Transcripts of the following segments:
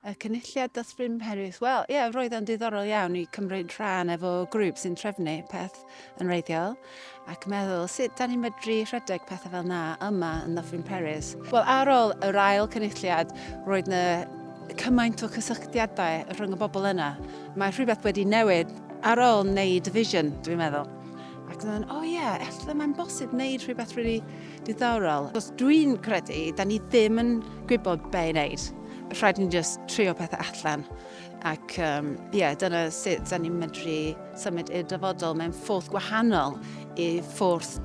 Y cynulliad dathlu mherydd. Wel, ie, roedd e'n diddorol iawn i cymryd rhan efo grŵp sy'n trefnu peth yn wreiddiol ac meddwl sut da ni'n medru rhedeg pethau fel na yma yn Ddyffryn Peris. Wel, ar ôl yr ail cynulliad, roedd yna cymaint o cysylltiadau rhwng y bobl yna. Mae rhywbeth wedi newid ar ôl wneud y vision, dwi'n meddwl. Ac dyna, o ie, efallai mae'n bosib wneud rhywbeth rili really diddorol. Os dwi'n credu, da ni ddim yn gwybod be i wneud. Rhaid ni'n just trio pethau allan. Ac um, yeah, dyna sut da ni'n medru symud i'r dyfodol mewn ffordd gwahanol i ffordd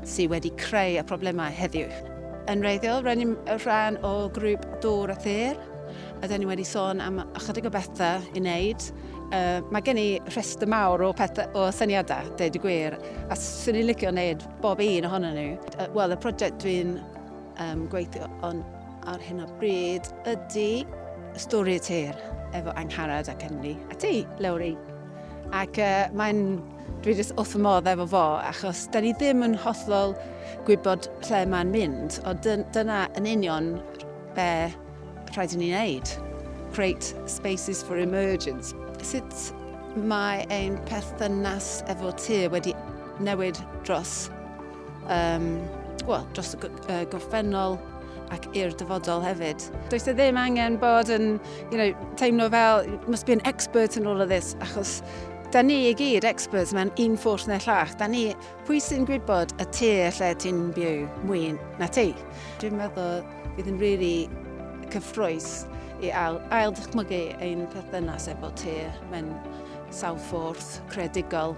sydd wedi creu y problemau heddiw. Yn reiddiol, rhaid ni'n rhan o grŵp Dŵr a Thyr, a da ni wedi sôn am ychydig o bethau i wneud. Yy, mae gen i rhestr mawr o pethe- o syniadau, deud y gwir, a 'swn i'n licio wneud bob un ohonyn nhw. Yy, wel, y project dwi'n um, gweithio on ar hyn o bryd ydy Stori y Tir efo Angharad ac Emily a ti, Lowri. Ac uh, mae'n... Dwi jyst wrth fy modd efo fo, achos da ni ddim yn hollol gwybod lle mae'n mynd, ond dyna yn union be rhaid i ni wneud. Create spaces for emergence. Sut mae ein perthynas efo tŷ wedi newid dros, um, well, dros y uh, gorffennol ac i'r dyfodol hefyd. Does e ddim angen bod yn you know, teimlo fel, must be an expert in all of this, achos da ni i gyd experts mewn un ffwrdd neu llall. Da ni Pwy sy'n gwybod y tŷ lle ti'n byw mwy na ti? Dwi'n meddwl bydd yn rili cyffroes i ail, ail dychmygu ein perthynas efo ti mewn sawl ffordd credigol.